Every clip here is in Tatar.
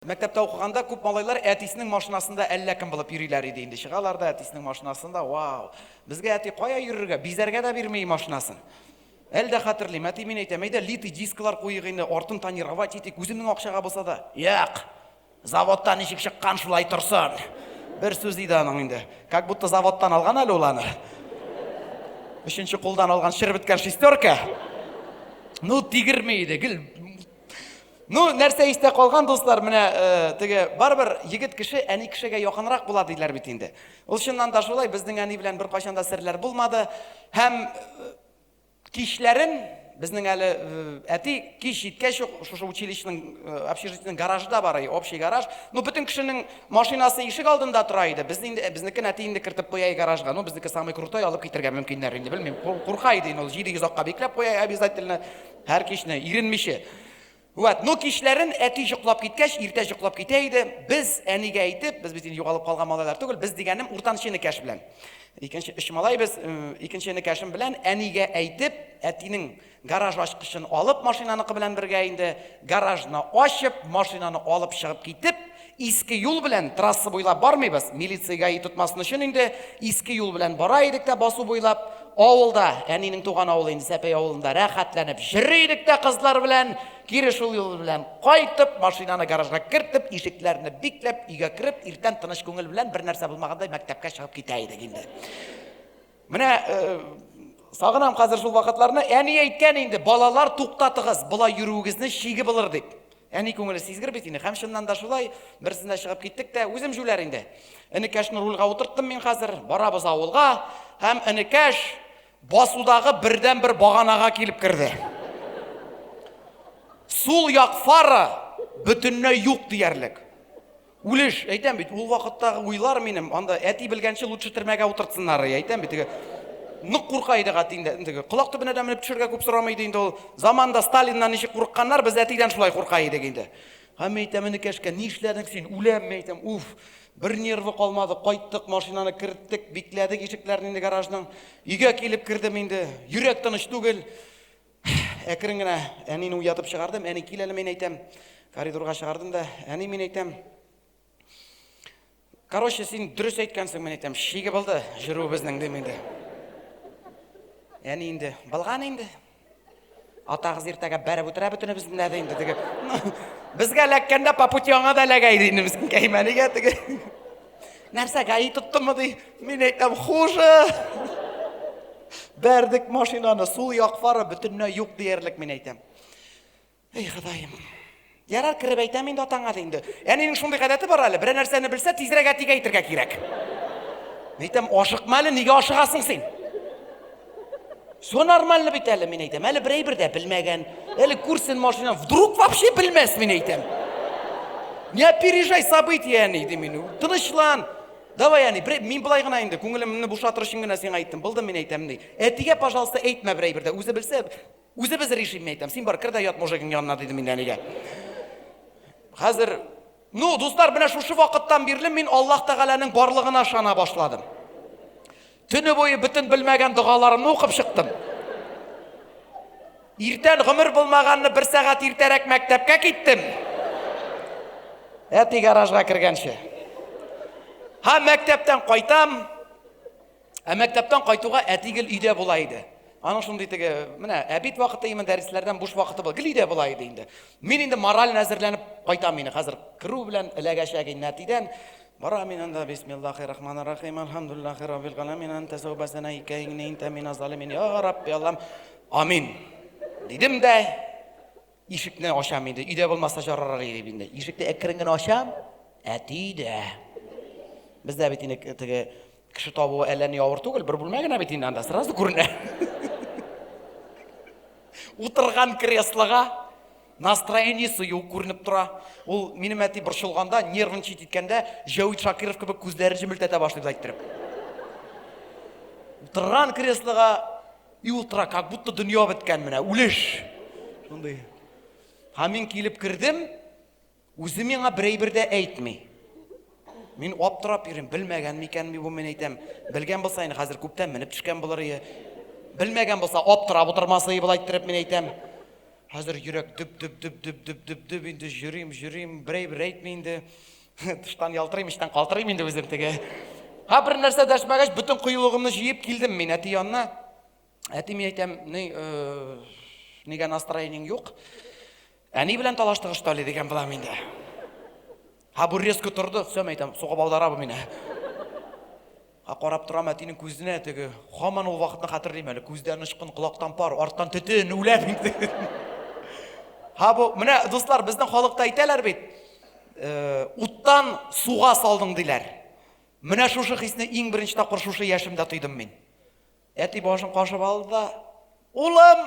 Мәктәптә укыганда күп малайлар әтисенең машинасында әллә кем булып йөриләр иде инде. Чыгалар да әтисенең машинасында, вау! Безгә әти кая йөрергә, бизәргә дә бирми машинасын. Әле дә хәтерлим, әти мин әйтәм, әйдә литый дисклар куйыйк инде, артын тонировать итик, үземнең акчага булса да. Як! Заводтан ничек чыккан, шулай торсын. Бер сүз иде аның инде. Как будто заводтан алган әле ул аны. Өченче кулдан алган шер беткән шестерка. Ну, тигерми иде, гел Ну, нәрсә истә калган, дуслар, менә э, теге барыбер егет кеше әни кешегә якынрак була диләр бит инде. Ул чыннан да шулай, безнең әни белән бер кайчан да серләр булмады. Һәм э, кичләрен безнең әле э, әти кич җиткәч ук шушы училищеның общежитиенең гаражы да бар, общий гараж. Ну, бөтен кешенең машинасы ишек алдында тора иде. Без инде безнекен әти инде кертеп куя гаражга. Ну, безнеке самый крутой алып китергә мөмкиннәр инде, белмим. Курка иде ул 700 акка бикләп куя обязательно. Һәр кичне, иренмичә. Вәт, ну кичләрен әти җоклап киткәч, иртә җоклап китә иде. Без әнигә әйтеп, без бит инде югалып калган малайлар түгел, без дигәнем уртанчы энекәш белән. Икенче өч малай без, икенче энекәшем белән әнигә әйтеп, әтинең гараж ачкычын алып, машинаныкы белән бергә инде гаражны ачып, машинаны алып чыгып китеп, Иске юл белән трасса буйлап бармыйбыз, милиция-гаи тотмасын өчен инде иске юл белән бара идек тә басу буйлап, авылда, әнинең туган авылы инде Сәпәй авылында рәхәтләнеп җыри идек тә кызлар белән, кире шул юл белән кайтып, машинаны гаражга кертеп, ишекләрне бикләп, өйгә кереп, иртән тыныч күңел белән, бернәрсә булмагандай мәктәпкә чыгып китә идек инде. Менә э, сагынам хәзер шул вакытларны. Әни әйткән инде, балалар туктатыгыз, болай йөрүегезне шиге булыр дип. Әни күңеле сизгер бит инде. Һәм чыннан да шулай, берсендә чыгып киттек тә, үзем җүләр инде. Энекәшне рульга утырттым мин хәзер, барабыз авылга, һәм энекәш басудагы бердән бер баганага килеп керде. Сул як фара бөтенләй юк диярлек. Үлеш, әйтәм бит, ул вакыттагы уйлар минем, анда әти белгәнче лучше төрмәгә утыртсыннар, әйтәм бит, теге нык курка идек әти инде, теге колак төбенә дә менеп төшәргә күп сорамый иде инде ул. Заманда Сталиннан ничек курыкканнар, без әтидән шулай курка идек инде. Һәм әйтәм, энекәшкә, ни эшләдең син, үләм, әйтәм, уф, бер нервы калмады, кайттык, машинаны керттек, бикләдек ишекләрне инде гаражның. Өйгә килеп кердем инде, йөрәк тыныч түгел. Әкрен генә әнине уятып чыгардым. Әни, кил әле, мин әйтәм. Коридорга чыгардым да, әни, мин әйтәм. Короче, син дөрес әйткәнсең, мин әйтәм. Шиге булды җөрүебезнең, дим инде. Әни инде, булган инде. Атагыз иртәгә бәреп үтерә бөтенебезне дә инде дип. Безгә эләккәндә по пути аңа да эләгә иде инде, мискинкәй, мәнигә теге. Нәрсә, гаи тоттымы ди? Мин әйтәм, хуже! Бәрдек машинаны, сул як фары бөтенләй юк диярлек, мин әйтәм. Эй, Ходаем. Ярар, кереп әйтәм инде атаңа ди инде. Әнинең шундый гадәте бар әле, берәр нәрсәне белсә, тизрәк әтигә әйтергә кирәк. Әйтәм, ашыкма әле, нигә ашыгасың син? Все нормально бит әле, мин әйтәм. Әле берәй бердә белмәгән. Әле күрсен машина, вдруг вообще белмәс, мин әйтәм. Не опережай события, әни, ди мин. Тынычлан. Давай, әни, берәй, мин былай гына инде, күңелемне бушатыр өчен генә сиңа әйттем. Булды, мин әйтәм, ди. Әтигә, пожалуйста, әйтмә берәй бердә. Үзе белсә, үзе без решим, мин әйтәм. Син бар, кер дә ят мужигың янына, диде мин әнигә. Хәзер, ну, дуслар, менә шушы вакыттан бирле мин Аллаһ Тәгаләнең барлыгына ышана башладым. Төне буе бөтен белмәгән догаларымны укып чыктым. Иртән гомер булмаганны бер сәгать иртәрәк мәктәпкә киттем. Әти гаражга кергәнче. Һа мәктәптән кайтам. Ә мәктәптән кайтуга әти гел өйдә була иде. Аның шундый теге, менә әбит вакыты именно дәресләрдән буш вакыты бу. Гел өйдә була иде инде. Мин инде мораль әзерләнеп кайтам мин хәзер. Керү белән эләгәчәк инде әтидән. Бара мин анда бисмиллахи рахмани рахим алхамдулиллахи раббил галәмин анта сәүбәсәнә икәйне интә мина залимин я рабби аллам амин дидем дә ишекне ачам инде өйдә булмаса жарарак дип инде ишекне әкрен генә ачам әти дә бездә бит инде теге кеше табуы әллә ни авыр түгел бер бүлмә генә бит инде анда сразу күренә утырган креслога Настроениесе юк күренеп тора. Ул минем әти борчылганда, нервничать иткәндә, Җәвит Шакиров кебек күзләрен җемелтәтә башлый без әйттереп. Утырган креслога и утыра, как будто дөнья беткән менә, үлеш. Шундый. Һәм мин килеп кердем, Үзе миңа бер әйбер дә әйтми. Мин аптырап йөрим, белмәгән микән ми бу, мин әйтәм. Белгән булса, инде хәзер күптән менеп төшкән булыр ие. Белмәгән булса, аптырап утырмас ие болай иттереп, мин әйтәм. Хәзер йөрәк дөп дөп дөп дөп дөп дөп дөп инде йөрим, йөрим, бер әйбер әйтми инде. Тыштан ялтырыйм, эчтән калтырыйм инде үзем теге. Ха бер нәрсә дәшмәгәч, бөтен кыюлыгымны җыеп килдем мин әти янына. Әти мин әйтәм, ни, э, нигә настроениең юк? Әни белән талаштыгыз, что ли, дигән булам инде. Ха бу резко торды, все, әйтәм, сугып алдара бу мине. Ха карап торам әтинең күзенә теге, хаман ул вакытны хәтерлим әле, күздән очкын, колактан пар, арттан төтен, үләм инде. Ха бу, менә дуслар, безнең халыкта әйтәләр бит, э, уттан суга салдың диләр. Менә шушы хисне иң беренче тапкыр шушы яшемдә тойдым мин. Әти башын кашып алды да, улым,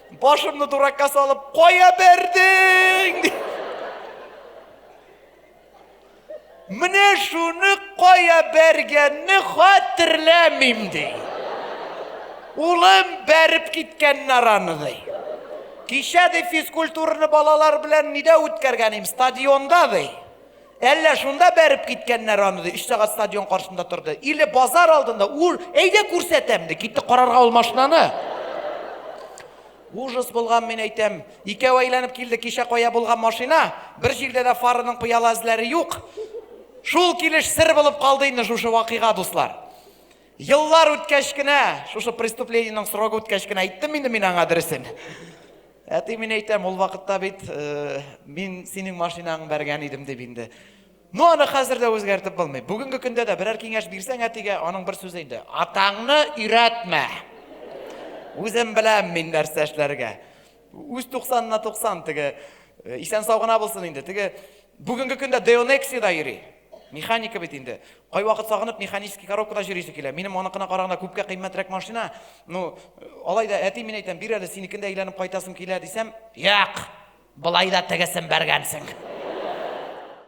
Башымны дуракка салып, кая бердең? Менә шуны кая бәргәнне хәтерләмим ди. Улым бәреп киткән нараны ди. Кичә ди физкультураны балалар белән нидә үткәргән идем? Стадионда ди. Әллә шунда бәреп киткәннәр аны, ди. Өч сәгать стадион каршында торды. Или базар алдында, ур, әйдә күрсәтәм, ди. Китте карарга ул машинаны. Ужас булган, мин әйтәм. Икәү әйләнеп килде, кичә кая булган машина, бер җирдә дә фарының пыяла эзләре юк. Шул килеш сер булып калды инде шушы вакыйга, дуслар. Еллар үткәч кенә, шушы преступлениенең срогы үткәч кенә әйттем инде мин аңа дөресен. Әти, мин әйтәм, ул вакытта бит мин синең машинаң бәргән идем дип инде. Ну, аны хәзер дә үзгәртеп булмый. Бүгенге көндә дә берәр киңәш бирсәң әтигә, аның бер сүзе инде. Атаңны өйрәтмә. Үзем беләм мин нәрсә эшләргә. Үз 90-на 90 теге исән сау гына булсын инде. Теге Бүгенге көндә Деонексида йөри. Механика бит инде. Кайвакыт сагынып механический коробкада җөрисе килә. Минем аныкына караганда күпкә кыйммәтрәк машина. Ну, алай да әти мин әйтәм, бир әле синекендә әйләнеп кайтасым килә дисәм, як! Болай да тегесен бәргәнсең.